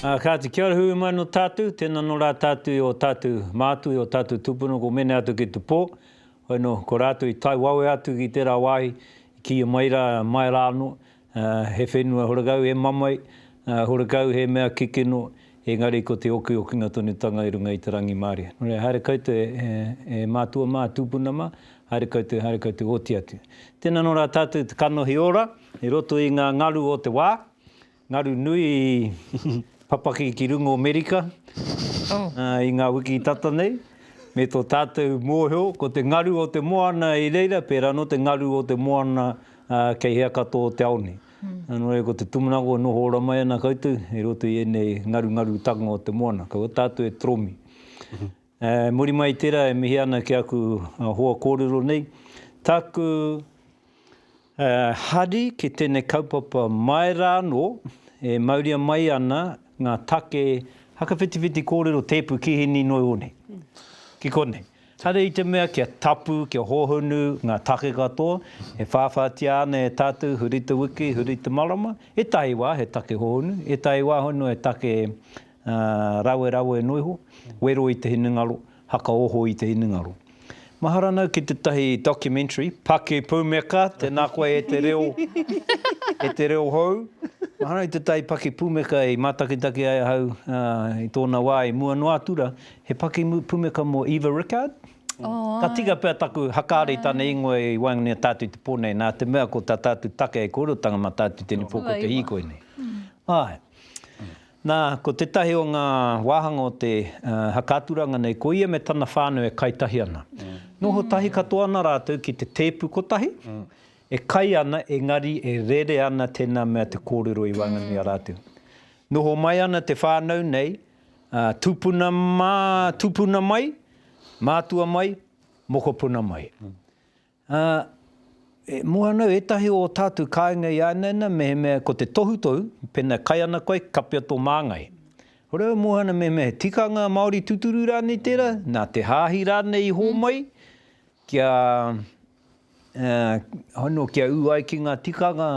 Ā, kāti, kia ora hui mai nō tātou, tēnā nō rā tātou i ō tātou mātū, i ō tātou tūpuna, ko Mene atu ki te pō, hoi nō, ko rātou i tae wawe atu ki tērā wāhi, kīia mai rā, mai rā anō, He whenua horekau, he mamae, horekau, he mea kikino, engari ko te okiokinga tonutanga i runga i te rangimārie. Nō reira, haere koutou e mātua mā, tūpuna mā, haere koutou, haere koutou oti atu. Tēnā nō rā tātou te kanohi ora i roto i ngā ngaru o te wā, ngaru nui i papaki ki runga o Amerika i ngā wiki tata nei, me tō tātou mōhio, ko te ngaru o te moana i reira, pērā anō te ngaru o te moana Ā, kei hea katoa o te ao nei? Nō reira, ko te tumunaga e noho ora mai ana koutou i roto i ēnei ngarungarutanga o te moana, kua tātou e toromi. Ā, muri mai i tērā e mihi ana ki aku hoa kōrero nei, tāku hari ki tēnei kaupapa mai rā anō e mauria mai ana ngā take whakawhitiwhiti kōrero tēpu kīhini noi ō nei. Ki konei. Kāre i te mea kia tapu, kia hōhonu ngā take katoa, e whāwhātia ana e tātou huri te wiki, huri te marama, ētahi wā he take hōhonu, ētahi wā hono he take rawerawe noa iho, wero i te hinengaro, hakaoho i te hinengaro. Mahara nau ki tētahi documentary, Paki Pumeka, tēnā koe e te reo, e te reo hou, mahara i tētahi paki pumeka i mātakitaki ai ahau i tōna wā i mua noa atu rā, He pakimu pumeka mo Eva Rickard. Ka tika pea taku hakaari i tana ingoa i waenganui i a tātou i te pō nei, nā te mea ko tā tātou take hei kōrerotanga mā tātou tēnei pō ko te hīkoi nei. Āe. Nā, ko tētahi o ngā wāhanga o te haka-aturanga nei, ko ia me tana whānau e kai tahi ana. Noho tahi katoa ana rātou ki te tēpu kotahi, e kai ana, engari e rere ana tēnā mea te kōrero i waenganui i a rātou. Noho mai ana te whānau nei, Tupuna mā, tupuna mai, mātua mai, mokopuna mai. Ā, e mua ana au, ētahi o ō tātou kāinga i āinaina mehemea ko te tohutohu, pēnā kai ana koe, kapea tō māngai. Hore au e mua ana mehemea he tikanga Māori tuturu rānei tērā, nā te hāhi rānei i hōmai kia Anō kia ū ai ki ngā tikanga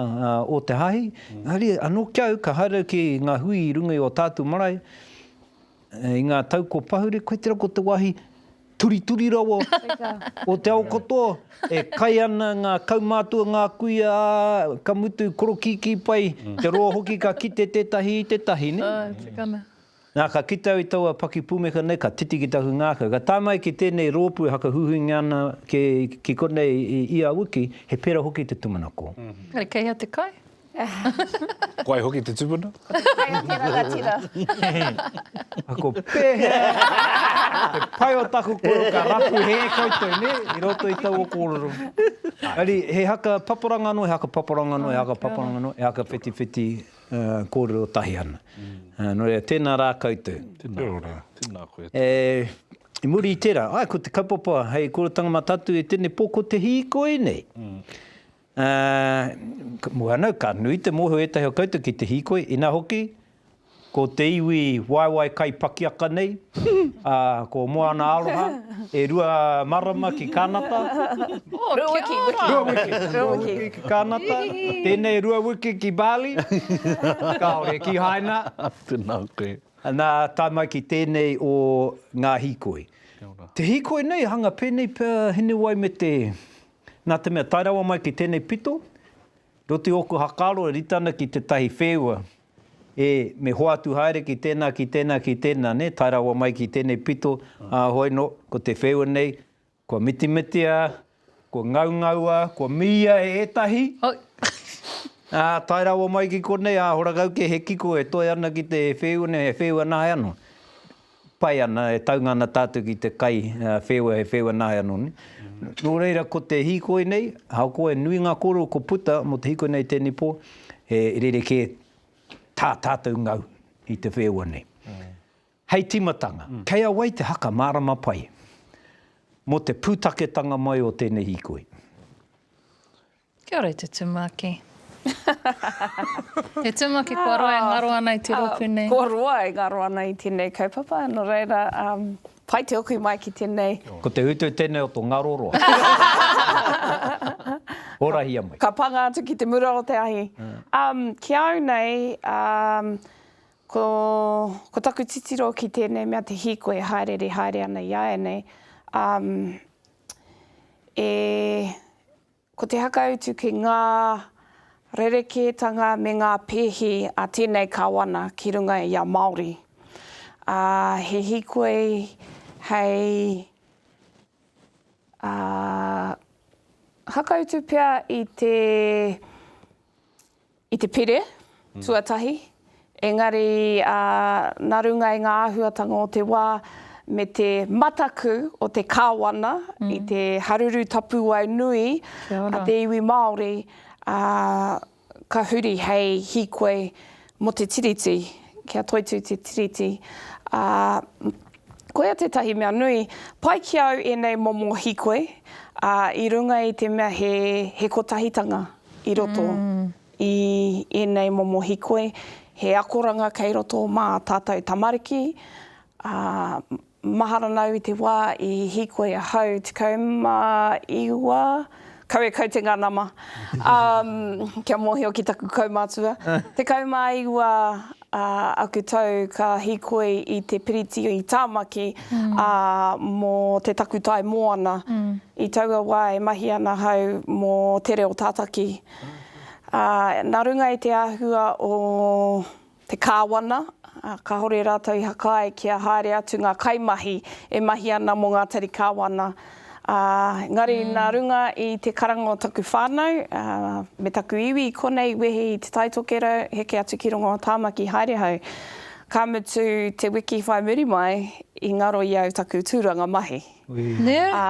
o te Hāhi, engari anō ki a au ka haere ki ngā hui i runga i ō tātou marae i ngā tau kua pahure, koe tērā ko te wāhi turituri rawa o te ao katoa, e kai ana ngā kaumātua, ngā kuia, ā, ka mutu korokīkī pai, te roa hoki ka kite tētahi i tētahi, nē? Ā, tikana. Nā, ka kite au i taua pakipūmeka nei, ka titi ki taku ngākau. Ka tae mai ki tēnei rōpū e whakahuihuingia ana ki konei i ia wiki, he pērā hoki te tumanako. Engari kei hea te kai? Koe hoki te tupuna? Ko te kai o te rangatira. Ako pēhea te pai o taku koro ka rapu hē koutou, nē, i roto i taua kōrero. Engari he haka paparanga anō, he haka paparanga anō, he haka paparanga anō, he haka whitiwhiti kōrero tahi ana. Nō reira, tēnā rā koutou. Kia ora. Tēnā koe. I muri i tērā, āe, ko te kaupapa hei kōrerotanga matatu e tēnei pō ko te hīkoi nei. Mua ana, ka nui te mōhio ētahi o koutou ki te hīkoi, inā hoki, ko te iwi waewae kai pakiaka nei, Ā, ko Moana Aroha, e rua marama ki Kānata. Oh, kia ora! Rua wiki. Rua wiki. Rua wiki ki Kānata. Tēnei rua wiki ki Bali. Kāore kīhaina. Tēnā koe. Nā, tae mai ki tēnei o ngā hīkoi. Kia ora. Te hīkoi nei, hanga pēnei pea Hinewai me te, nā te mea, tae rawa mai ki tēnei pito, roti ōku hakaaro e rite ana ki tētahi whēua E, me hoatu haere ki tēnā, ki tēnā, ki tēnā, nē, tae rawa mai ki tēnei pito, ā, hoi nō, ko te wheua nei, kua mitimitia, kua ngaungaua, kua mīia e ētahi, ā, tae rawa mai ki konei, ā, horakau kē he kiko e toe ana ki te wheua nei, he wheua nāianō. pai ana, e taunga ana tātou ki te kai wheua, he wheua nāe anō nei. Nō reira, ko te hīkoi nei, ahakoa he nui ngā kōrero ko puta mō te hīkoi nei i tēnei pō, he rerekē tā tātou ngau i te wheua nei. Hei tīmatanga, kei a wai te haka mārama pai mō te pūtaketanga mai o tēnei hīkoi? Kia ora e te tumaki. Te tumaki kua roa e ngaro ana i te rōpū nei. Kua roa e ngaro ana i tēnei kaupapa, nō reira, pai te hoki mai ki tēnei. Ko te utu tēnei o to ngaro roa. Horahia mai. Ka panga atu ki te mura o te ahi. Ki au nei, ko taku titiro ki tēnei mea te hīkoi e hāereere haere ana i āianei, Ko te whakautu ki ngā rerekētanga me ngā pēhi a tēnei Kāwana ki runga i a Māori, ā, he hīkoi hei, ā, whakautu pea i te. I te pire tuatahi, engari nā runga i ngā āhuatanga o te wā me te mataku o te Kāwana i te haruru tapuwae nui a te iwi Māori, ka huri hei hīkoi mō te Tiriti, kia toitū te Tiriti. Ā, koia tētahi mea nui, pai ki au ēnei momo hīkoi i runga i te mea he kotahitanga. i roto i ēnei momo hikoi, he akoranga kei roto mā tātou tamariki, ā, mahara nāu i te wā i hikoi ahau 19, kau e kau te ngā nama, ā, kia mōhio ki taku kaumātua, 19 ā aku tau ka hīkoi i te piriti i Tāmaki, ā, mō te takutai moana. I taua wā e mahi ana ahau mō te reo tātaki. Ā, nā runga i te āhua o te kāwana, kāore rātou i hakae kia haere atu ngā kaimahi e mahi ana mō ngā tari kāwana. Ā, engari nā runga i te karanga o taku whānau, ā, me taku iwi, konei i wehi i Te Tai Tokerau, heke atu ki runga o Tāmaki haere hau. Ka mutu te wiki whai muri mai, i ngaro i au taku tūranga mahi. Nē? Ā,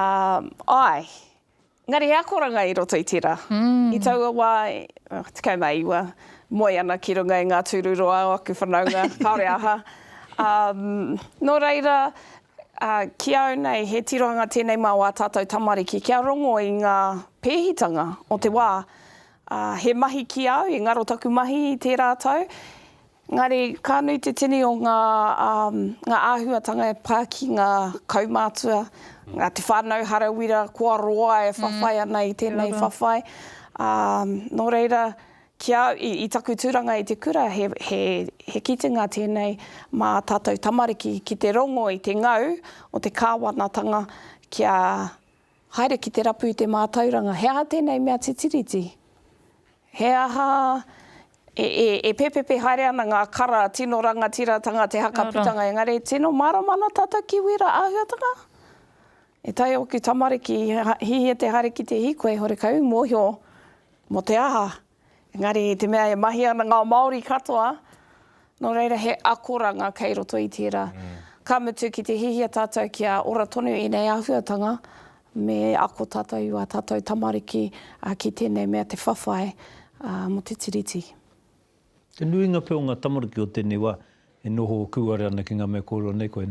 āe. Engari he akoranga i roto i tērā. I taua wā, ā, tekau mā iwa, moe ana ki runga i ngā tūruroa o aku whanaunga, kāore aha. Ā, nō reira, Ā, ki a au nei, he tirohanga tēnei mā wā tātou tamariki kia rongo i ngā pēhitanga o te wā. Ā, he mahi ki a au, i ngaro taku mahi i tērā tau, engari ka nui te tini o ngā, ā, ngā āhuatanga e pā ki ngā kaumātua, ngā te whānau hara wira kua roa e whawhai ana i tēnei whawhai. Ā, nō reira, Ki a au, i taku tūranga i te kura, he kitenga tēnei mā tātou tamariki ki te rongo i te ngau o te kāwanatanga kia haere ki te rapu i te mātauranga. He aha tēnei mea te Tiriti? He aha e pepepe haere ana ngā kara tino rangatiratanga te haka putanga engari tino mārama ana tātou ki wērā āhuatanga? E taea ōku tamariki, hihia te haere ki te hīkoi, hore kau i mōhio Mō te aha? Engari i te mea e mahi ana ngā Māori katoa, nō reira he akoranga kei roto i tērā. Ka mutu ki te hihia tātou kia ora tonu ēnei āhuatanga, me ako tātou i wā tātou tamariki ki tēnei mea te whawhai mō te Tiriti. Te nuinga pea o ngā tamariki o tēnei wā e noho kūare ana ki ngā mea kōrero nei koe.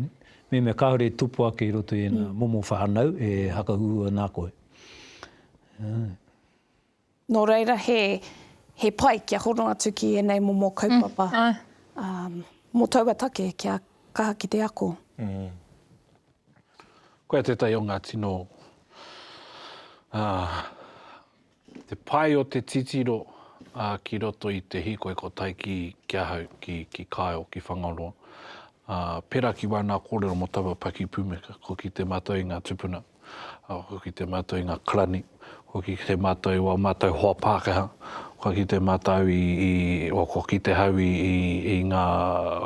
Mehemea kāore e tupu ake i roto i ēnā momo whānau e hakahuhua nā koe. Nō reira, he, he pai kia hono atu ki ēnei momo kaupapa mm, mō taua take kia kaha ki te ako. Mm. Koia tētahi o ngā tino uh, te pai o te titiro uh, ki roto i te hīkoi ko tai ki, ki ahau, ki, ki Kyle, ki Whangaroa. Ā, pērā ki wāna kōrero mō taua paki pumeka, kua kite mātou i ngā tupuna, ā, kua kite mātou i ngā karani, kua kite mātou i wā mātou hoa Pākehā, kua kite mātou i, i, o, kua kite hau i, i, i ngā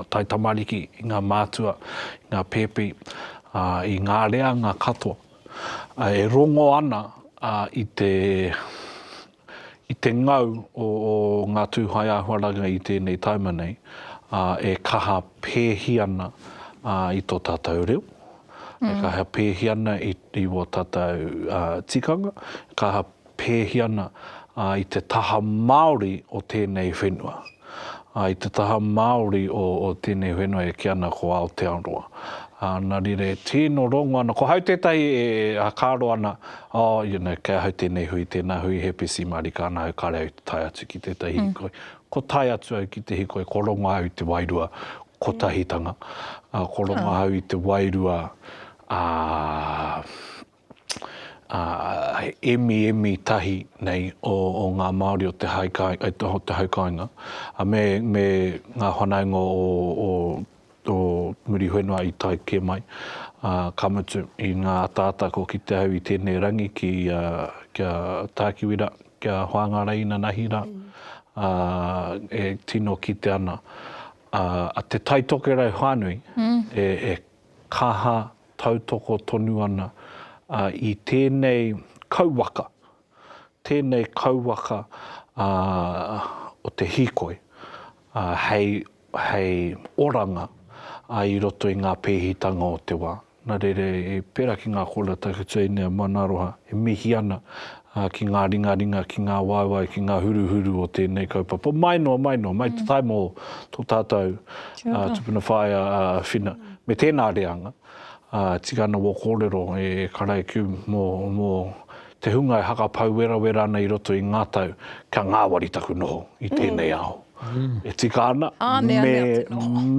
taitamariki, i ngā mātua, i ngā pēpi, ā, i ngā reanga katoa, ā, e rongo ana, ā, i te, I te ngau o ngā tūhae āhuaranga i tēnei taima nei, e kaha pēhi ana i tō tātou reo, e kaha pēhi ana i wō tātou tikanga, e kaha pēhi ana i te taha Māori o tēnei whenua. ā, i te taha Māori o tēnei whenua e kī ana ko Aotearoa. Ā, nā reira e tīno rongo ana, ko hau tētahi e hakaaro ana, oh, you know, kei ahau tēnei hui, tēnā hui, he PC mārika ana au, kāre au i tae atu ki tētahi hīkoi. Kua tae atu au ki te hīkoi, kua rongo ahau i te wairua kotahitanga, ā, kua rongo ahau i te wairua, ā, emi emi tahi nei o o ngā Māori o te hai kai o te o te hai kainga a me me ngā whanaunga o o o Muriwhenua i tae kē mai a ka mutu i ngā ataata kua kite au i tēnei rangi ki a ki a Tākiwi ra ki a Whāngarei inanahi ra a e tino kite ana a a Te Tai Tokerau whānui e e Kaha tautoko tonu ana i tēnei kauwaka, tēnei kauwaka o te hīkoi hei oranga i roto i ngā pēhitanga o te wā. Nā reira, pērā ki ngā kōrero tākuta i nei a Maunaaroha e mihi ana ā, ki ngā ringaringa, ki ngā waewae, ki ngā huruhuru o tēnei kaupapa, mai noa, mai noa, mai te tae mō tō tātou tupuna whaea a Whina, me tēnā reanga, ā, tika ana wō kōrero e Karaikiu mō, mō te hunga e hakapau werawera ana i roto i ngā tau, kia ngāwari taku noho i tēnei ao. E tika ana, me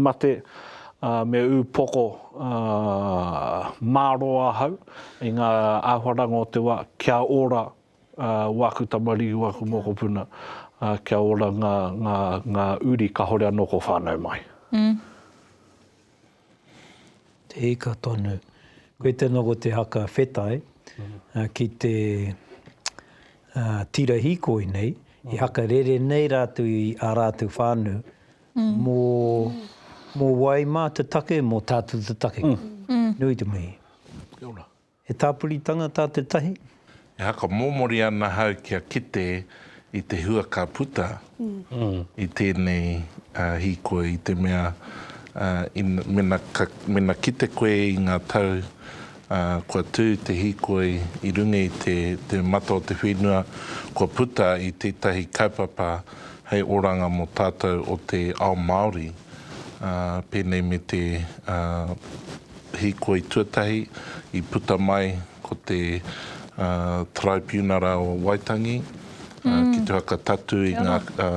mate, ā, me upoko, ā, mārō ahau, i ngā āhuaranga o te wā, kia ora wāku tamariki, wāku mokopuna, kia ora ngā, ngā, ngā uri kāore anō kua whānau mai. Mm. Te ika tonu. Koe tēnā ko te haka whetai, mm. ki te uh, tira hikoi nei, mm. i haka rere nei rātou i ā rātou whānu, mō, mō wai mā te take, mō tātou te take. Nui te mihi. Kia ora. He tāpuritanga tā te tahi? E whakamomori ana hau kia kite i te hua ka puta i tēnei hīkoi i te mea, mena, mena kite koe i ngā tau Ā, kua tū te hīkoi i runga i te, te mata o te whenua, kua puta i tētahi kaupapa hei oranga mō tātou o te ao Māori, ā, pēnei me te, ā, hīkoi tuatahi i puta mai ko te, ā, Taraipiunara o Waitangi, ā, ki te whakatatū i ngā, ā,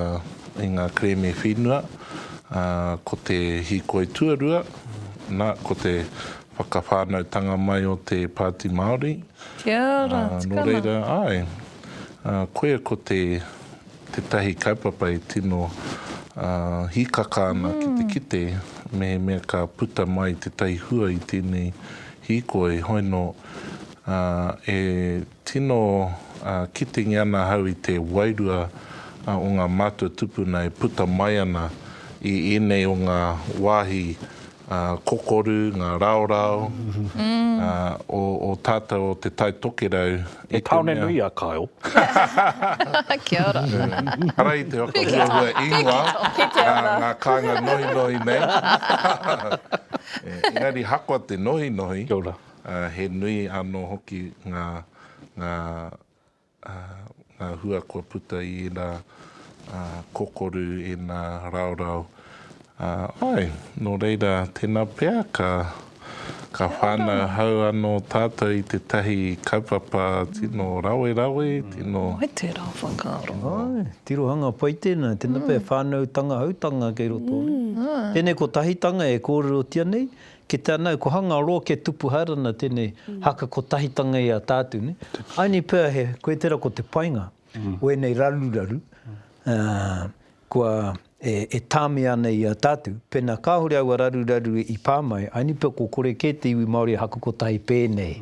i ngā kerēme whenua, ā, ko te hīkoi tuarua, nā, ko te Whakawhānautanga mai o te Pāti Māori. Kia ora, tikana. Nō reira, āe, koia ko te, tētahi kaupapa e tino hīkaka ana ki te kite mehemea ka puta mai tētahi hua i tēnei hīkoi, hoi nō e Tino kitengi ana ahau i te wairua o ngā mātua tupuna e puta mai ana i ēnei o ngā wāhi kokoru, ngā raorao o tātou o Te Tai Tokerau. He tāone nui a Kyle. Kia ora. Ara i te whakahuahua ingoa ngā kāinga nohinohi nei. Engari hakoa te nohinohi. Kia ora. Ā, he nui anō hoki ngā, ngā, ā, ngā hua kua puta i ēnā, ā, kokoru, ēnā raorao. Ā, āe, nō reira, tēnā pea ka, ka whānauhau anō tātou i tētahi kaupapa tino rawerawe, tino. He tērā whakaaro. Āe, tirohanga pai tēnā, tēnā pea e whānautanga hautanga kei roto nei. Tēnei kotahitanga e kōrerotia nei, Ki te anau, ko hanga roa ke tupu haerana tenei haka kotahitanga i a tatu ne. Aini pea he koe tera ko te painga o enei raruraru kua e tamea ana i a tatu, pena kahore aua raruraru i pa mai, aini pea ko kore ke te iwi Maori e haka kotahi penei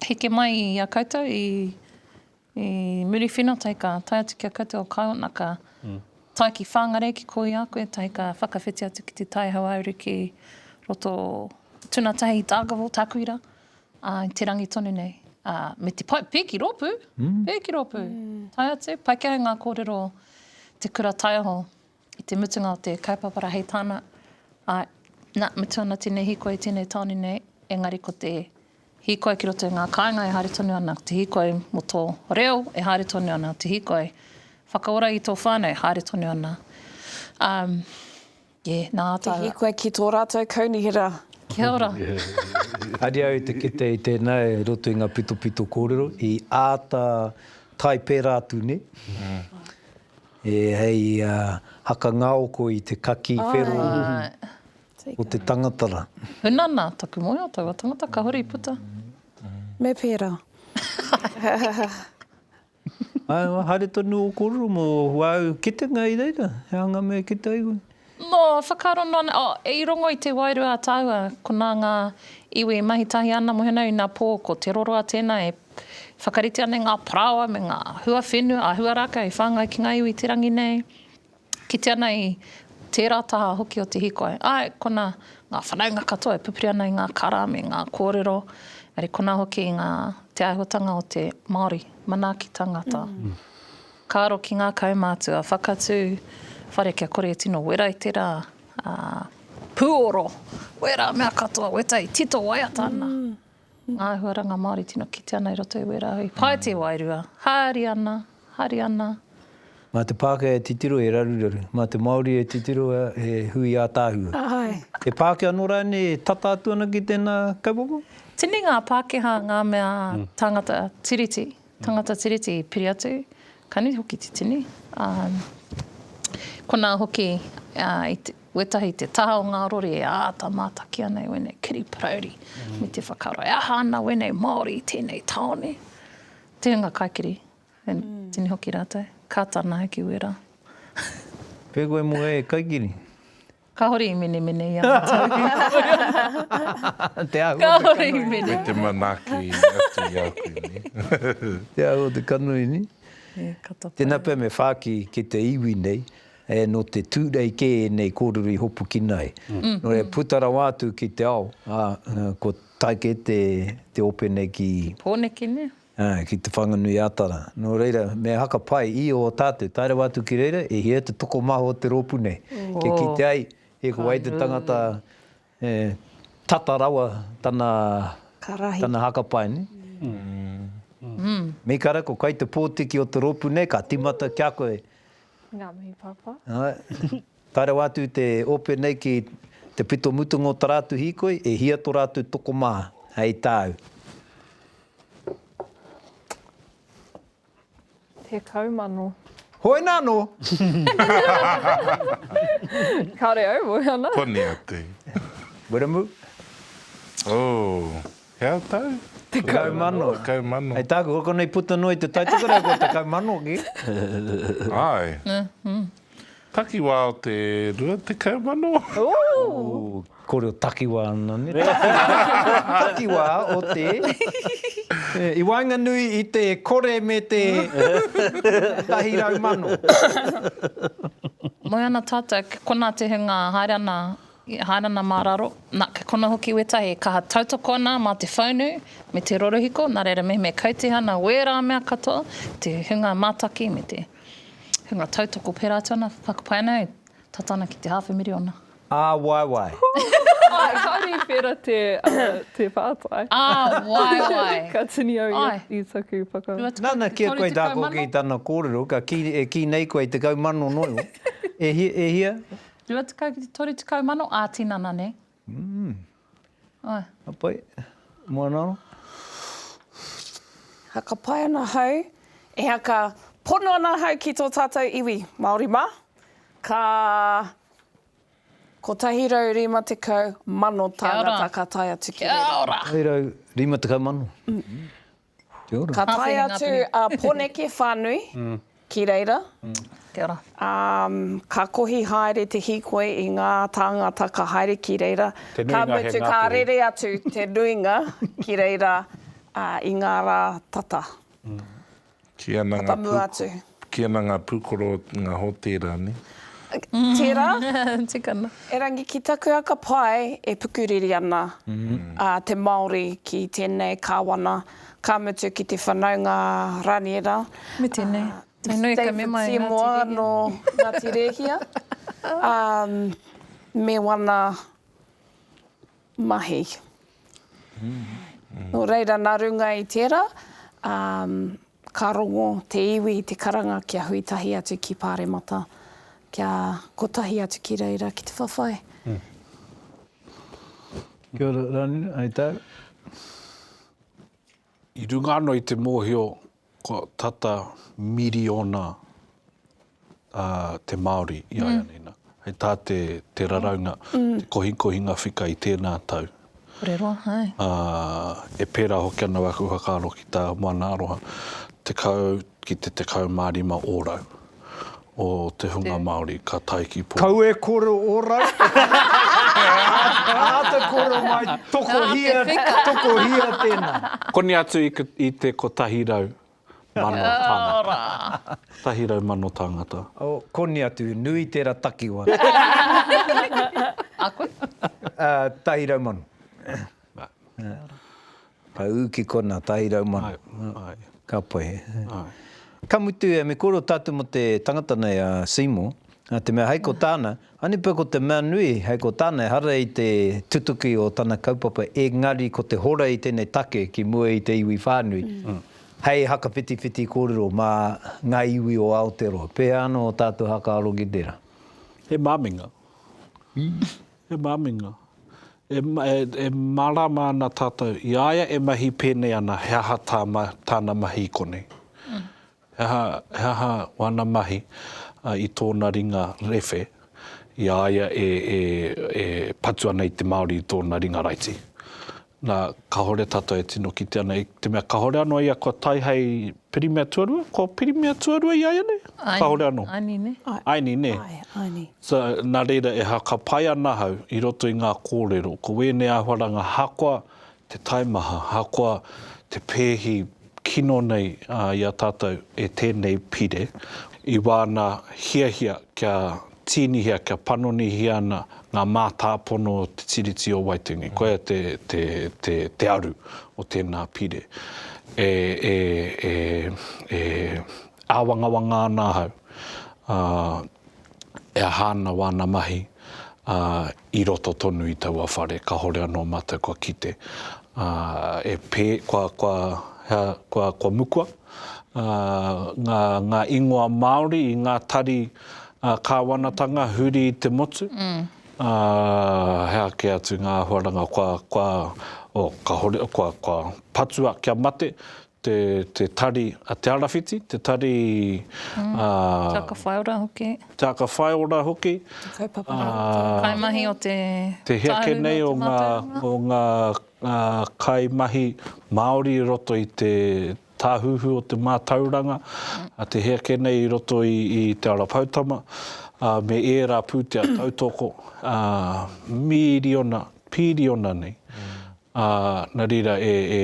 Heke mai i a koutou i Muriwhina tae ka tae atu ki a koutou o Kaiwanaka, tae ki Whangarei ki koi a koe tae ka whakawhiti atu ki te Tai Hauāuru ki roto tuna tahi i Dargaville, Takuira, a, i te rangi tonu nei. A, me te pai, pēki rōpū, pēki rōpū, tae atu, paikea e ngā kōrero te kura taiaho I te mutunga o te kaupapara hei tāna, āe, nā, mutu ana tēnei hīkoi i tēnei tāone nei, engari ko te hīkoi ki roto i ngā kāinga e haere tonu ana, ko te hīkoi mō tō reo e haere tonu ana, ko te hīkoi whakaora i tō whānau e haere tonu ana. Um, yeah, nā ātou... Te hīkoi ki tō rātou kaunihera. Kia ora. Haere au i te kite i tēnā e roto i ngā pitopito kōrero, i āta tae pērā atu, nē? E hei haka ngaoko i te kaki whero o te tangata ra. Huna na taku moe o taua tangata kahore i puta. Me pera. Haere tonu o korero mo wau kitenga i reira he anga me kite ai koe. Nō, whakaaro noa nei, oh, i rongo i te wairua a tāua, konā ngā iwi i mahi tahi āna mohenau inā pō, ko Te Roroa tēnā e whakaritea nei ngā parāoa me ngā huawhenua a Huarākau i whāngai ki ngā iwi i te rangi nei, kite ana i tērā taha hoki o te hīkoi. Āe, konā, ngā whanaunga katoa e pupuri ana i ngā kara me ngā kōrero, engari konā hoki i ngā, te āihotanga o te Māori manaakitanga tā. Ka aro ki ngā kaumātua whakatū whare kia kore e tino wera i te rā, ā, pūoro, wera, mea katoa, weta i tito waiata ana. Ngā āhuaranga Māori tino kite ana i roto i wera, i pae te wairua, hari ana, hari ana. Mā te Pākehā e titiro he raruraru, mā te Māori e titiro he hui ātaahua. He Pākehā anō rānei e tata atu ana ki tēnā kaupapa? Tini ngā Pākehā ngā mea tāngata Tiriti, Tangata Tiriti, piri atu, ka nui hoki te tini. Ā, konā hoki, ā, i te, wētahi te taha o ngā rori e āta mātaki ana i wēnei kiri parauri me te whakaaro e aha ana wēnei Māori i tēnei tāone. Te hunga kaikiri, e tini hoki rātou, ka tana hoki wērā. Pēkoe mō e kaikiri. Kahore i menemene i a matou. Te ahu o te kanohi ni. Me te manaki atu i a koe ni. Te ahu o te kanohi ni. Tena pea me whaki ki te iwi nei, no te Turei ke enei korero i hopukina ai. No reira puta rawa atu ki te ao, ko taike te ope nei ki. Poneke ne? Ā, ki Te Whanganui-ā-Tara. Nō reira, me haka pai i ō tātou tae rawa atu ki reira, e hia te tokomaha o te rōpū nei, kia kite ai e kua ai te tangata e tata rawa tana, tana haka pai nei. Mīkara, ko Kaitepōtiki o te rōpū nei, ka tīmata ki a koe. Ngā mihi pāpā. Āe. Tae rawa atu te ope nei ki te pito mutunga o ta rātou hīkoi, e hia to rātou tokomā, hei tāu. 10,000. Hoina anō! Kāre au, moe ana. Koni atu. Wiremu? Oh, he au tau? 10,000. 10,000. Hei tāku, kua konei puta noa i te taitokerau, kua 10,000 ki. Āe. Takiwā o te rua tekau mano. Kore o takiwā ana ne. Takiwā o te. I waenganui i te kore me te tahi rau mano. Moe ana tātou, ke kona te hunga haere ana, haere ana mā raro, na, ke kona hoki wētahi e kaha tautoko ana mā te whaunu me te rorohiko, nā reira mehemea kau te hana o ērā mea katoa, te hunga mātaki me te. Hunga tautoko pērā atu ana, whakapae ana e, tata ana ki te hāwhe miriona. Ā, waewae. Āe, kāore i pērā te, te pātai. Ā, waewae. Ka tini au i taku whaka. Nana, ki a koe tā Cook i tana kōrero, ka kī, e kī nei koe i tekau mano noio. E hia? Rua tekau ki te toru tekau mano, ā, tinana nei. Ka pai. Moana ora. Ha, ka pai ana hau. Ehea ka pono ana hau ki tō tātou iwi Māori mā. Ka 150,000 tāngata ka tae atu ki reira. Kia ora! 150,000. Kia ora. Ka tae atu a Poneke whanui ki reira. Kia ora. Ka kohi haere te hikoi i nga tāngata ka haere ki reira. Te nuinga he Ngāpuhi. Ka mutu ka rere atu te nuinga ki reira i nga rā tata. Ki ana nga pū. Tata mua atu. Ki ana nga pukoro nga hotera ne. Tera. Tukana. Erangi ki taku aka pae e pukuriri ana a te Maori ki tenei kawana ka mutu ki te whanaunga Raniera. Me tenei. Me nui ka mema e Ngati Rehia. David Seymour no Ngati Rehia me wana. mahi. Nō reira, nā runga i tērā, ka rongo te iwi i te karanga kia hui tahi atu ki Pāremata, kia kotahi atu ki reira ki te whawhai. Kia ora, Ranira, hai tā? I runga anō i te mōhio Kua tata miriona te Māori iaianei, hei tā te raraunga, te kohikohinga whika i tēnā tau. Kore roa, hai. E pērā hoki ana wāku whakaaro ki tā Moana Aroha, tekau ki te tekau mā rima ōrau. o te hunga Māori ka tae ki pō. Kau e koro orau te whakatau. Āta koro mai, tokohia, tokohia tēnā. Koni atu i te kotahi rau mano tāngata. Kotahi rau mano tāngata. Koni atu, nui tērā takiwa. A koe? Tahi rau mano. Ka ū ki kona tairau mano. Ka pai. Ka mutu ia, me koro tātou mo te tangata nei a Seymour, na te mea hei ko tāna, ani pea ko te mea nui, hei ko tāna ehara i te tutuki o tana kaupapa engari ko te hora i tenei take ki mua i te iwi whānui, hei hakawhitiwhiti kōrero mā ngā iwi o Aotearoa. Pēhea anō o tātou hakaaro ki tērā? He māminga. He māminga. E, e, e mārāma ana tātou. I a ia e mahi pēnei ana, he aha tā ma, tāna mahi i konei? Mm. He, aha, he aha wana mahi uh, i tōna ringa rewhe i a ia e, e, e patu ana i te Māori i tōna ringa raiti? Na, kahore tatou e tino kite ana, i te mea kahore ano ia kua tae hei pirimia tuarua, ko pirimia tuarua i a ia nei? Kahore ano. Aini ne? Aini ne? Aini. So, na reira e hakapai ana ahau i roto i nga korero, ko wenei ahuaranga ahakoa te taimaha, ahakoa te peehi kino nei i a tatou e tenei pire, i wana hiahia kia Tīnihia kia panonihia ana ngā mātāpono o te Tiriti o Waitangi. Koia te aru o tēnā pire. E āwangawanga ana ahau, e aha ana wāna mahi, i roto tonu i taua whare, kahore anō mātou kua kite, ā, e pē, kua, kua, hea, kua, kua mukua, ā, ngā, ngā ingoa Māori i ngā tari, ā, kāwanatanga huri i te motu, ā, hea kē atu ngā āhuaranga kua, kua, oh, kahore, kua, kua patua kia mate, te, te tari a Te Arawhiti, te tari mm. a... Te Aka Whaiora hoki. Te Aka Whaiora hoki. Te kaupapa. Uh, kaimahi o te... Te heake nei o ngā, o ngā uh, kaimahi Māori i roto i te tāhuhu o te mātauranga, mm. a te heake nei i roto i, i Te Ara Poutama, uh, me ērā pūtea tautoko, uh, mīriona, pīriona nei. Mm. Ā, nā reira e, e,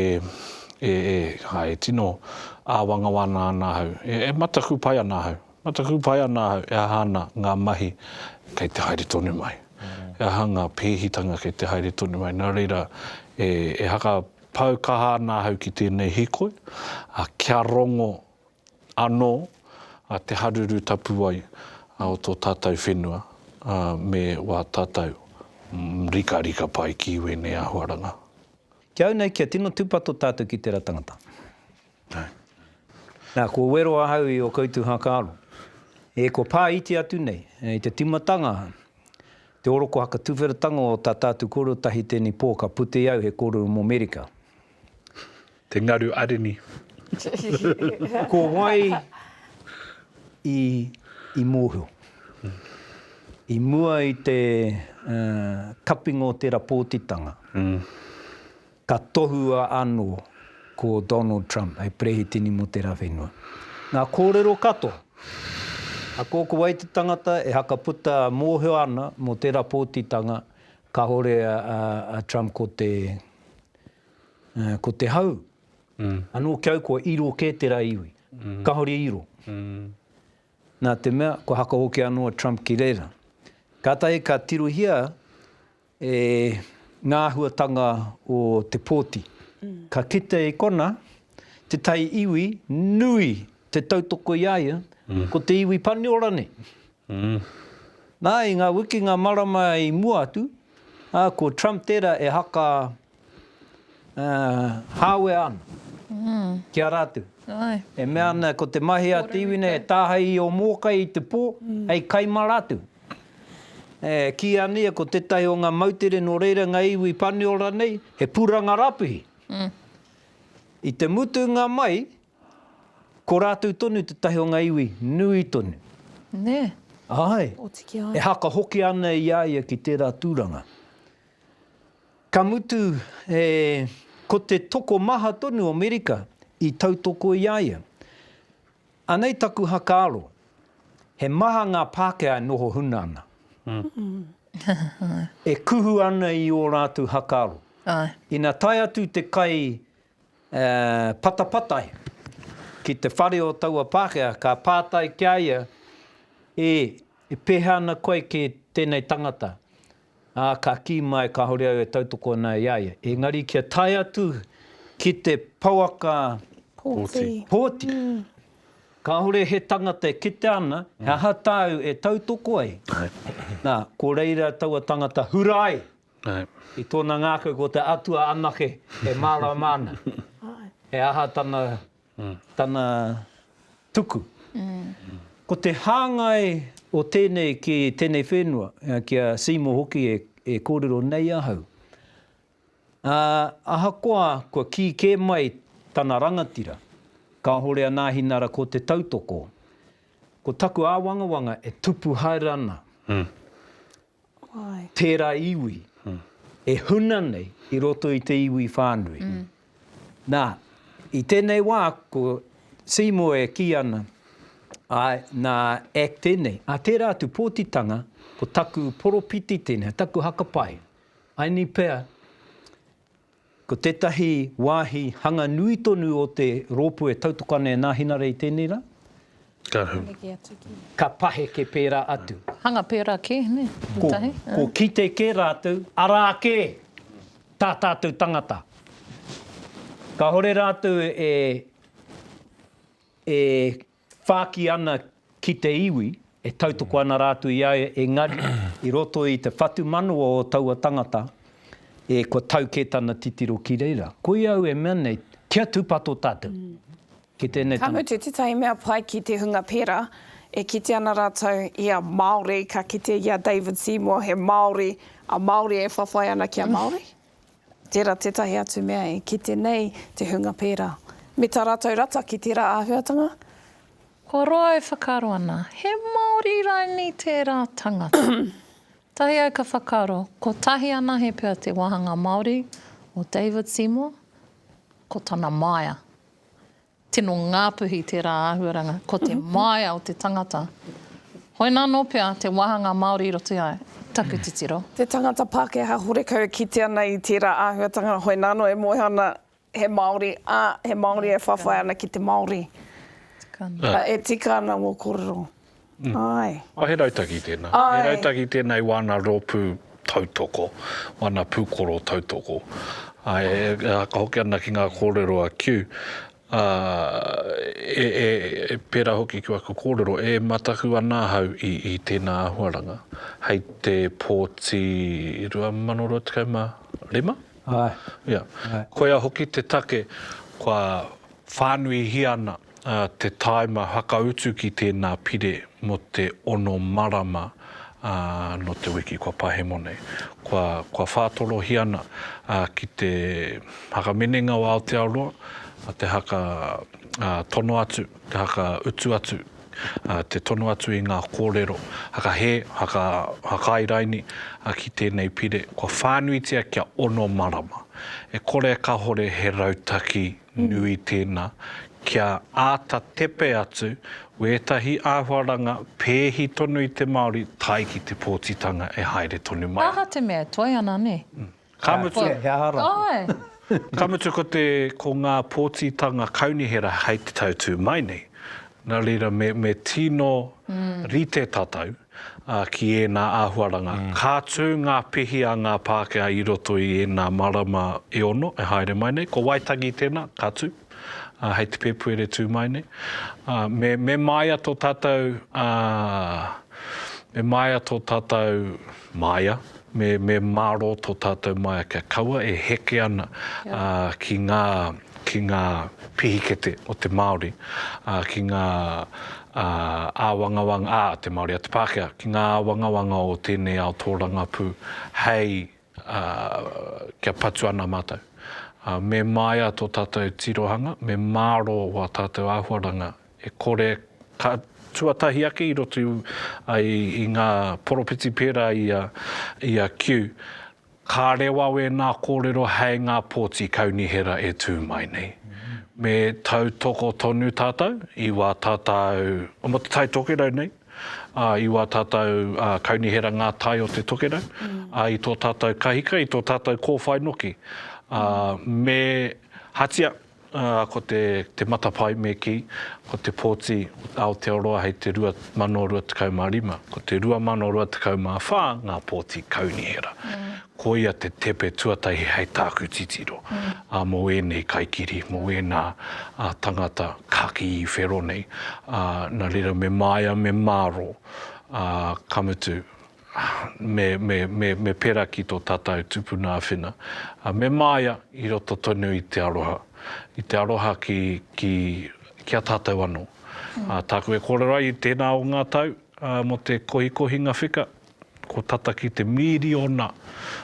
e, e, ā, e tino āwangawāna ana ahau, e, e mataku pai ana ahau, mataku pai ana ahau e aha ana ngā mahi kei te haere tonu mai, e aha ngā pēhitanga kei te haere tonu mai. Nā reira, e, e hakapau kaha ana ahau ki tēnei hīkoi, ā, kia rongo anō a Te Haruru Tapuwae o tō tātou whenua me wā tātou rikarika pai ki wēnei āhuaranga. Ki au nei kia tino tūpato tātou ki tērā tangata. Nā, kua wero ahau i ō koutou hākaro, e kua pā iti atu nei i te tīmatanga te oroko hakatuwheratanga o tā tātou kōrero tahi tēnei pō ka putea au he kōrero mō Merika. Te ngaru arini. Ko wai i i mōhio? I mua i te kapinga o tera pōtitanga, ka tohua ano ko Donald Trump hei perehitini mo tera whenua. Nga korero katoa, a ko ko wai te tangata e hakaputa mōhio ana mo tera pōtitanga kahore a Trump ko te Uh, ko te hau, mm. anō ki au kua iro kē te rā iwi. Mm. Kahore iro. Mm. Nā te mea, kua haka hoki anō a Trump ki reira. Kātahi ka tirohia e ngā huatanga o te pōti. Mm. Ka kite i kona, te tai iwi nui te tautoko i aia, mm. ko te iwi paniora nei. Nā, i ngā wikinga marama i mua atu, ā, ko Trump tērā e haka hāwea ana ki a rātou. E mea ana ko te mahi a te iwi nei e tāhae i ō mōkai i te pō hei kai mā rātou. E kī ana ia ko tētahi o ngā moutere nō reira ngā iwi Paniora nei he pūranga rapihi. I te mutunga mai, Ko rātou tonu tētahi o ngā iwi nui tonu. Nē. Āe. Oti ki a ia. E haka hoki ana i a ia ki tērā tūranga. Ka mutu, e, ko te tokomaha tonu o Merika i tautoko i a ia. Anei taku hakaaro, he maha ngā Pākehā e noho huna ana. E kuhu ana i ō rātou hakaaro. Āe. Ina tae atu te kai Patapatai, ki te whare o taua Pākehā, ka pātai ki a ia, E, e pēhea ana koe ki tēnei tangata? Ā, ka kī mai, Kāore au e tautoko ana i a ia. Engari kia tae atu ki te pouaka pōti, kāore he tangata e kitea ana he aha tāu e tautoko ai. Nā, ko reira taua tangata hura ai. I tōna ngākau ko te Atua anake e mārama ana he aha tana tana tuku. Ko te hāngai o tēnei ki tēnei whenua, ki a Seymour hoki e e kōrero nei ahau, ā, ahakoa kua kī kē mai tana rangatira, kāhore a Nāhinara ko te tautoko, ko taku āwangawanga e tupu haere ana. tērā iwi e huna nei i roto i te iwi whānui. Nā, i tēnei wā, ko Seymour e kī ana, āe, nā Eck tēnei, ā, tērā atu pōtitanga, ko taku poropiti tēnei, taku haka pai, I need pea, Ko tētahi wāhi hanga nui tonu o te rōpū e tautoko ana e Nāhinara i tēnei rā. Ka paheke atu ki. Ka paheke pērā atu. Hanga pērā kē, nē, ētahi. Ko kite kē rātou, arā kē tā tātou tangata. Kāore rātou e whāki ana ki te iwi, e tautoko ana rātou i a ia, engari, i roto i te whatumanawa o taua tangata, e, kua tau kē tana titiro ki reira. Koia au e mea nei, kia tūpato tātou ki tēnei tangata. Ka mutu, tētahi mea pai ki te hunga pērā, e kite ana rātou i a Māori, ka kite i a David Seymour, he Māori, a Māori e whawhai ana ki a Māori. Tērā tētahi atu mea e kite nei te hunga pērā. Me tā rātou rata ki tērā āhuatanga. Kua roa e whakaaro ana, he Māori rainī tērā tangata. Tahi au ka whakaaro, kotahi anahe pea te wāhanga Māori o David Seymour, ko tana māia. Tino ngāpuhi tērā āhuaranga, ko te māia o te tangata. Hoina anō pea te wāhanga Māori i roto i a taku titiro. Te tangata Pākehā horekau e kite ana i tērā āhuatanga, hoina anō e moe ana he Māori, ā, he Māori e whawhai ana ki te Māori. E tika ana ngō kōrero. Āe. Oh, he rautaki tēnā. Āe. He rautaki tēnā i wāna rōpū tautoko, wāna pūkoro tautoko. Āe, e haka hoki ana ki ngā kōrero a Kew, ā, e, e, e pērā hoki ki waku kōrero, e mataku ana ahau i, i tēnā āhuaranga. Hei te pōti 2025? Āe. Ia. Āe. Koia hoki te take kua Whānuihia ana te tāima whakautu ki tēnā pire mō te ono marama nō te wiki kua pahemo nei. Kua whātorohia ana ki te Haka Meninga o Aotearoa, te haka tono atu, te haka utu atu, te tono atu i ngā kōrero haka hē, haka hakairaini ki tēnei pire. Kua whānuitia kia ono marama. E kore e kahore he rautaki nui tēnā, kia āta tepe atu wētahi āhuaranga pēhi tonu i te Māori tae ki te pōtitanga e haere tonu mai. He aha te mea, toe ana, nē? Ka mutu, he aha rā? Ka mutu ko te, ko ngā pōtitanga kaunihera hei te tau tū mai nei, nā reira me, me tino rite tatau ā, ki ēnā āhuaranga. Ka tū ngā pihi a ngā Pākehā i roto i ēnā marama e ono e haere mai nei. Ko Waitangi tēnā, ka tū, ā, hei te Pēpuere tū mai nei. Ā, me, me māia tō tātou, ā, me māia tō tātou, māia? Me mārō tō tātou maea kia kaua e heke ana ki ngā pihikete o te Māori, ki ngā āwangawanga, a te Māori, a te Pākehā, ki ngā āwangawanga o tēnei ao tōrangapū hei kia patu ana mātou. Me māia tō tātou tirohanga, me mārō wā tātou āhuaranga e kore ka tuatahi ake i roto i ngā poropiti pērā i a Q. Ka rewa wēnā kōrero hei ngā pōti kaunihera e tū mai nei. Me tautoko tonu tātou i wā tātou, mō Te Tai Tokerau nei, i wā tātou kaunihera ngā tai o te Tokerau, i tō tātou kahika, i tō tātou kōwhai noki. Me hatia ā, ko te, te matapae me kī, ko te pōti Aotearoa hei te 2025, ko te 2024 ngā pōti kaunihera. Koia te tepe tuatahi hei tāku titiro, ā, mō ēnei kaikiri, mō ēnā tangata kakī i whero nei, ā, nā reira me māia me mārō, ā, ka mutu, me pera ki to tatau tupuna awhina, me maia i roto tonu i te aroha, i te aroha ki, ki, ki a tatou ano. Taku e korero ai i tena o nga tau mo te kohikohinga whika, ko tata ki te miriona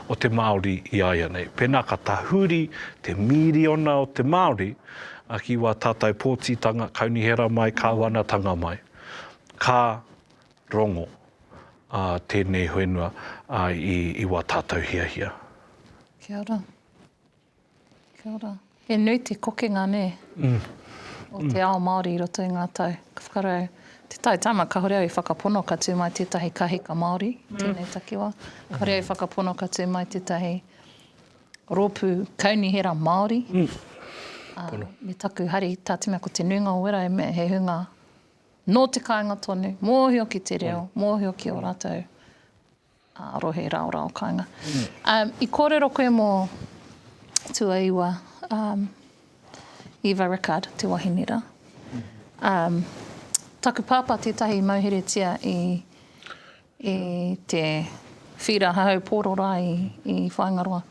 o te Maori i aianei. Pena ka tahuri te miriona o te Maori ki wa tatou potitanga, kaunihera mai, kawanatanga mai, ka Rongo, Ā, tēnei whenua, ā, i, i wā tātou hiahia. Kia ora. Kia ora. He nui te kokenga, nē? Mm. O te ao Māori i roto i ngā tau. Ka whakarau, te tau tama, kāore au i whakapono ka tū mai tētahi kahika Māori, tēnei takiwā. Kāore au i whakapono ka tū mai tētahi rōpū kaunihera Māori. Ā, me taku hari, tā te mea ko te nuinga o wera, he hunga Nō te kāinga tonu, mōhio ki te reo, mōhio ki ō rātou rohe raorao kāinga. I kōrero koe mō tuaiwa Eva Rickard, te wahine rā. Taku pāpā tētahi i mauheretia i I te whira hahau pōro rā i Whāingaroa.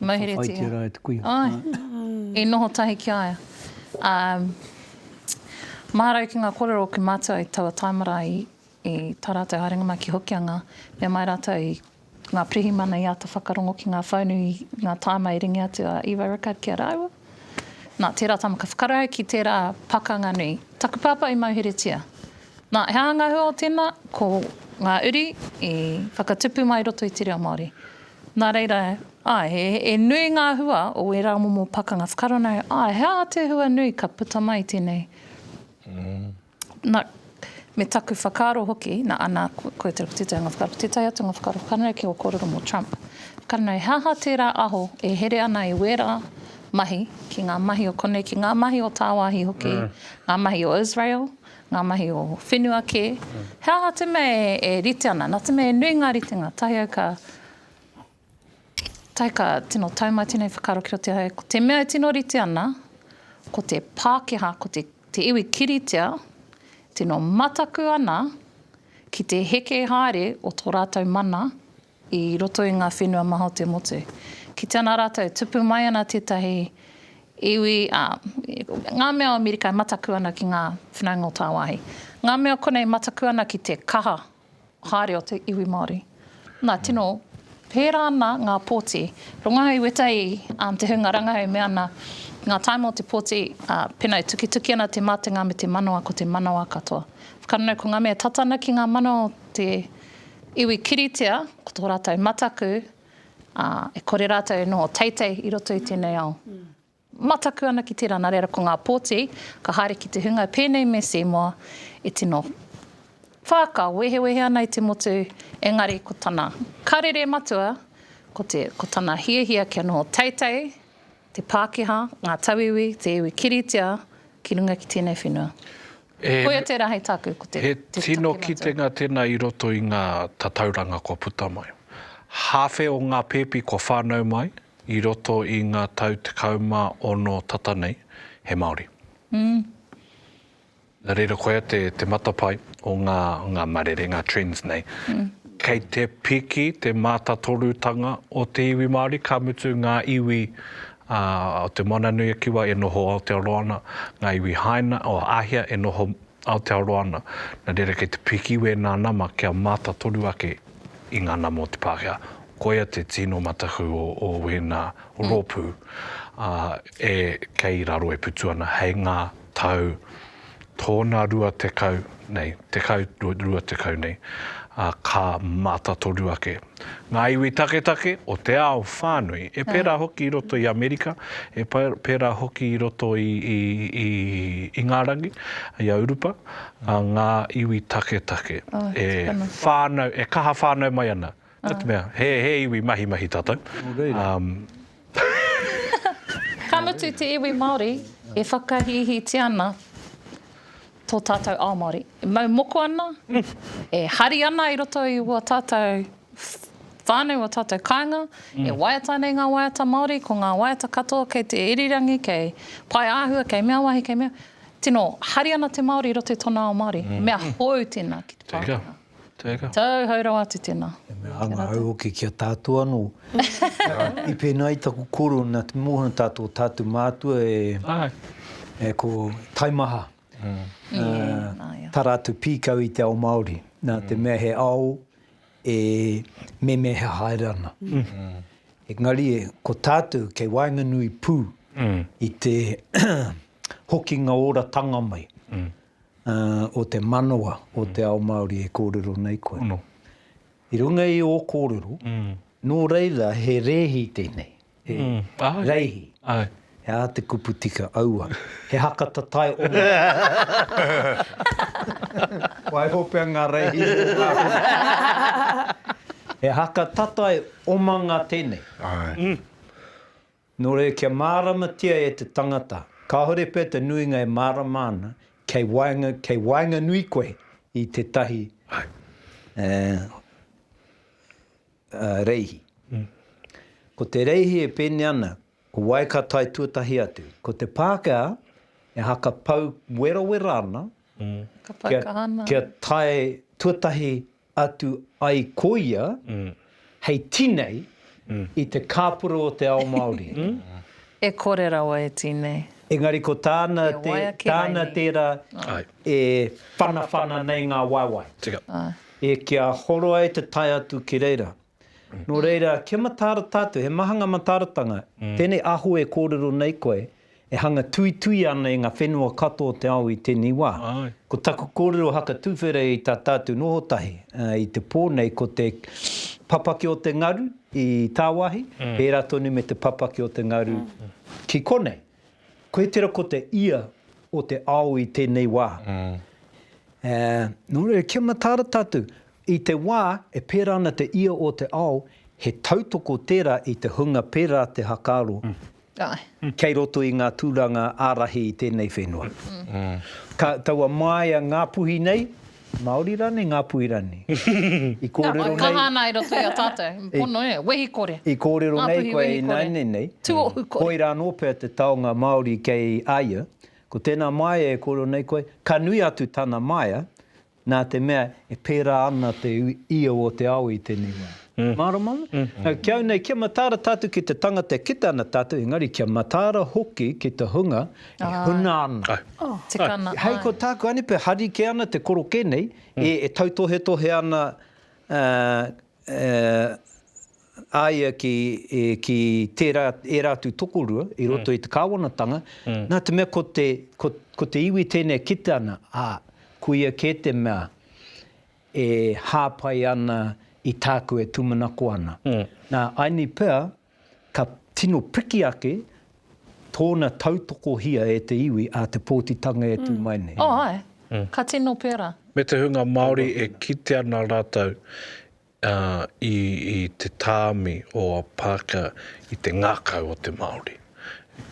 Mauheretia. Ka whaitia rā e te kuia. Āe. I noho tahi ki a ia. Ā, maharau ki ngā kōrero o Kūmātua i taua taimara i tā rātou haerenga mai ki Hokianga, mea mai rātou i Ngā pirihimana i āta whakarongo ki ngā whaunu i ngā tāima i ringi atu a Eva Rickard ki a rāua. Nā, tērā tama ka whakarae au ki tērā pakanga nui. Taku pāpā i mauheretia. Nā, he ānga hua o tēnā, ko ngā uri i whakatupu mai roto i te reo Māori. Nā reira, āe, he nui ngā hua o ērā momo pakanga whakaronau, āe, he aha te hua nui ka puta mai i tēnei? Na, me taku whakaaro hoki, na, ana, koia te rapa-titai o nga whakaaro. Te tae atu nga whakaaro whakanui ki nga korero mo Trump. Whakanui, he aha tera aho e here ana e wera mahi, ki nga mahi o konei, ki nga mahi o tawahi hoki, nga mahi o Israel, nga mahi o whenua ke, he aha te mea e rite ana? Na te mea e nui nga ritenga, tahi au ka. Tai ka tino tau mai tēnei whakaaro ki roto i a hau, ko te mea e tino rite ana, ko te Pākehā, ko te, te iwi kiritea, tino mataku ana ki te heke haere o tō rātou mana i roto i ngā whenua maha o te motu. Kite ana rātou, tupu mai ana tētahi iwi, ā, ngā mea o Amerika e mataku ana ki ngā whanaunga o tāwāhi. Ngā mea konei i mataku ana ki te kaha haere o te iwi Māori. Na, tino pērā ana ngā pōti. Rongahau i weta i te hunga rangahau e mea ana, ngā taima o te pōti, pēnā e tukituki ana te mātenga me te manawa ko te manawa katoa. Whakananau ko ngā mea tata ana ki ngā manawa o te iwi kiritea, ko tō rātou mataku, e kore rātou e noho teitei i roto i tēnei ao. Mataku ana ki tērā, nā reira ko ngā pōti ka haere ki te hunga pēnei me Seymour e tino whākao, wehewehe ana i te motu, engari ko tana karere matua, ko te, ko tana hiahia kia noho teitei te Pākehā, ngā tauiwi, te iwi kiritea ki runga ki tēnei whenua. Koia tērā hei tāku, ko te, te take matua. He tino kitenga tēnā i roto i ngā tatauranga kua puta mai. Hāwhe o ngā pēpi kua whānau mai, I roto i nga tau tekau ma ono tata nei, he Maori. Na reira koia te matapae o nga marere, nga trends nei. Kei te piki te matatorutanga o te iwi Maori, ka mutu nga iwi o Te Moana-nui-a-Kiwa e noho Aotearoa ana, nga iwi Haina, o Ahia e noho Aotearoa ana. Na reira kei te piki wena nama kia matatoru ake. i ngana mō te Pākehā. Koia te tino mataku o, o wēnā rōpū ā, e kei raro e putu ana hei ngā tau tōna rua tekau nei, tekau, rua tekau nei, ā, ka mātatoru ake ngā iwi taketake o te ao whānui, e pērā hoki i roto i Amerika, e pērā hoki i roto i, i, i, i ngā rangi, i a Urupa. a ngā iwi taketake e whānau, e kaha whānau mai ana. Ko te mea, he, he iwi mahimahi tātou. Nō reira. Ka mutu te iwi Māori e whakahīhītia ana tō tātou ao Māori. E mau moko ana, e hari ana i roto i ō tātou whānau, ō tātou kāinga, e waiata ana i ngā waiata Māori, ko ngā waiata katoa kei te irirangi, kei pae āhua, kei mea wahi, kei mea. Tino, hari ana te Māori i roto i tona ao Māori. Mea hou tēnā ki te Pākehā. Tēnā. Tau hou rawa atu tēnā. E mea anga au hoki ki a tātou anō. I pēnā ai taku koro nā te mōhio tātou tātou mātua e ko taimaha. Tā rātou pīkau i te ao Māori. Nā te mea he ao e memeha haere ana. Engari ko tātou kei waenganui pū i te hokinga oratanga mai o te manawa o te ao Māori e kōrero nei koe. I runga i ō kōrero, nō reira he rēhi tēnei, he reihi. He aha te kupu tika? Aua, he haka tatae oma. Waiho pea ngā reihi o Ngāpuhi. He haka tatae omanga tēnei. Nō reira kia māramatia e te tangata, kāore pea te nuinga e mārama ana, kei waenga, kei waenganui koe i tētahi reihi. Ko te reihi e pēnei ana, ko wai ka tae tuatahi atu. Ko te Pākehā e haka pau werawera ana kia tae tuatahi atu ai ko ia hei tinei i te kāpura o te ao Māori. E kore rawa e tinei. Engari ko tāna tērā e whanawhana nei ngā waewae. E kia horo ai te tae atu ki reira. Nō reira, kia mataara tātou, he maha ngā mataaratanga, tēnei aho e kōrero nei koe, e hanga tuituia ana e ngā whenua katoa o te ao i tēnei wā. Ko taku kōrero hakatuwhere i tā tātou noho tahi i te pō nei, ko te papaki o te ngaru i tāwāhi, pērā tonu me te papaki o te ngaru ki konei. Koe tera ko te ia o te ao i tenei wa. E, no reira kia mataara tatou, i te wa e pera ana te ia o te ao, he tautoko tera i te hunga pera te hakaaro kei roto i nga turanga arahi i tenei whenua. Ka, taua maia Ngapuhi nei, Maori rani nga Puirani. I korero nei. Kaha ana i roto i a tatou. Pono e. Wehi kore. I korero nei koe i naine nei. Tuohu kore. Koira ano pea te taonga Maori kei a ia. Ko tena maea e korero nei koe, ka nui atu tana maea, na te mea e pera ana te io o te ao i tenei wa. Mārama ana? Ki au nei, kia mataara tātou ki te tangata e kite ana tātou, engari kia mataara hoki ki te hunga e huna ana. Tika ana. Hei ko tāku anipi, hari kē ana te korokē nei, e tautohetohe ana a ia ki tērā, ērā atu tokorua i roto i te kāwanatanga, nā te mea ko te iwi tēnei e kite ana, ā, ko ia kē te mea e hāpai ana i tāku e tūmanako ana. Nā Aini pea, ka tino piki ake tōna tautokohia e te iwi a Te Pōtitanga e tū mai nei. Oh, ae. Ka tino pērā. Me te hunga Māori e kite ana rātou i te tāmi o Parker i te ngākau o te Māori.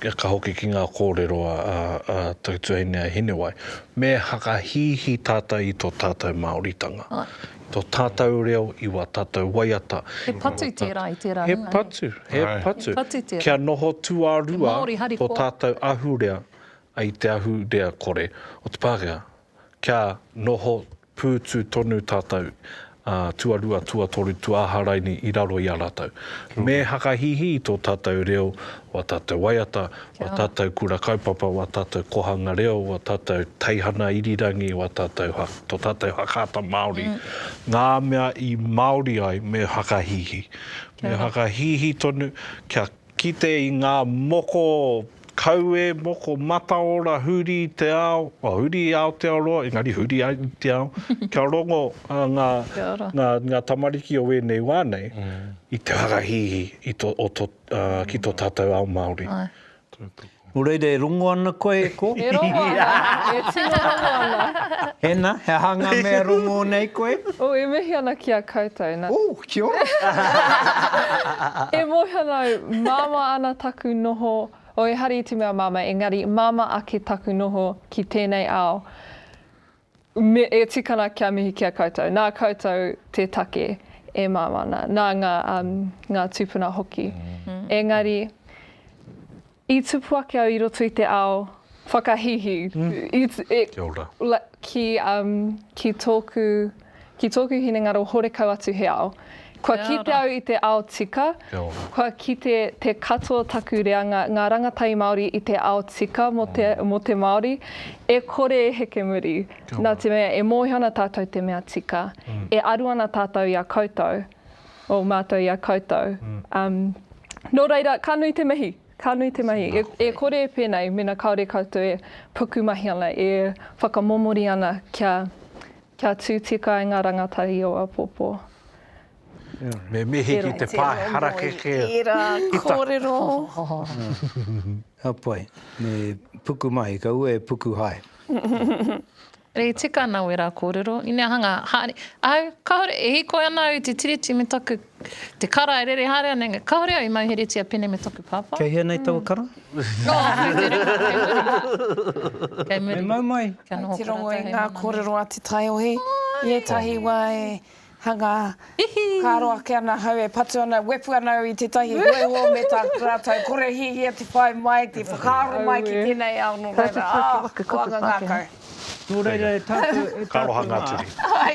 ka hoki ki ngā kōrero a Tautuahine a Hinewai, me whakahīhī tātou i tō tātou Māoritanga, i tō tātou reo, i wā tātou waiata. He patu tērā i tērā hunga. He patu, he patu. He patu tērā. Kia noho tuarua tō tātou ahurea i te ahurea kore o te Pākehā. Kia noho pūtu tonu tātou, ā, tuarua, tuatoru, tuāha raini i raro i a rātou. Me hakahihi i tō tātou reo, wā tātou waiata, wā tātou kura kaupapa, wā tātou kohanga reo, wā tātou teihana irirangi, wā tātou ha, tō tātou hakaata Māori, ngā mea i Māori ai me hakahihi. Me hakahihi tonu kia Kite i ngā moko kaue, moko mataora, huri i te ao, oh, huri i Aotearoa, engari huri ai i te ao, kia rongo ngā, ngā, ngā tamariki o wēnei wā nei i te whakahīhī i to, o to, uh, ki tō tātou ao Māori. Aye. Nō reira e rongo ana koe e kō? E rongo ana, e tino rongo ana. Ena, he aha ngā mea rongō nei koe? Ō, e mihi ana ki a koutou, na. Ō, kia ora! E mōhiono, māmā ana taku noho, ō, ehara i te mea māmā, engari māmā ake taku noho ki tēnei ao. Me e tikana kia mihi ki a koutou. Nā koutou te take e mau ana, nā ngā, ngā tūpuna hoki. Engari, i tupu ake au i roto i te ao whakahīhī, i, e, ki, ki tōku Ki tōku hinengaro horekau atu he ao. Kua kite au i te ao tika, kua kite te katoa taku reanga ngā rangatahi Māori i te ao tika mō te mō te Māori, e kore e heke muri. Nā te mea e mōhio ana tātou te mea tika, e aru ana tātou i a koutou, o mātou i a koutou. Nō reira, ka nui te mihi, ka nui te mahi. E e kore e pēnei mēnā kāore koutou e pukumahi ana, e whakamomori ana kia Kia tū tika ai ngā rangatahi o Apopo. Me mihi ki te pae harakeke o tēra kōrero. Ka pai. Me puku mai, ka ua e puku hai. E tika ana wera kōrero. Inea hanga, haere. Au, kāore, e hīkoi ana au i te Tiriti me taku Te kara e rere haere ana engari kāore au i mauheretia pēnei me taku pāpā. Kei hea nei taua kara? Nō aku te rima, kei muri mai. Kei muri. Me mau mai. Kia noho Te rongo i ngā kōrero a Te Taiohi. I ētahi wā e hanga, ka aro ake ana ahau e patu ana, wepu ana au i tētahi hōiho me tā rātou kore hiahia te whai mai, te whakaaro mai ki tēnei ao nō reira, ah, ko anga ngākau. Nō reira e tātou, e tātou mā. Ka aroha ngā turi. Hai.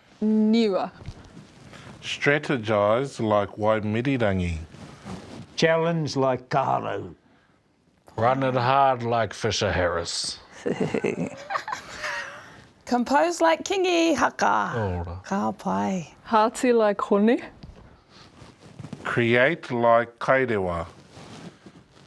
niua. Strategise like Waimirirangi. Challenge like Kaharau. Run it hard like Fisher Harris. Compose like Kingi Haka. Ka pai. Hearty like Hone. Create like Kairewa.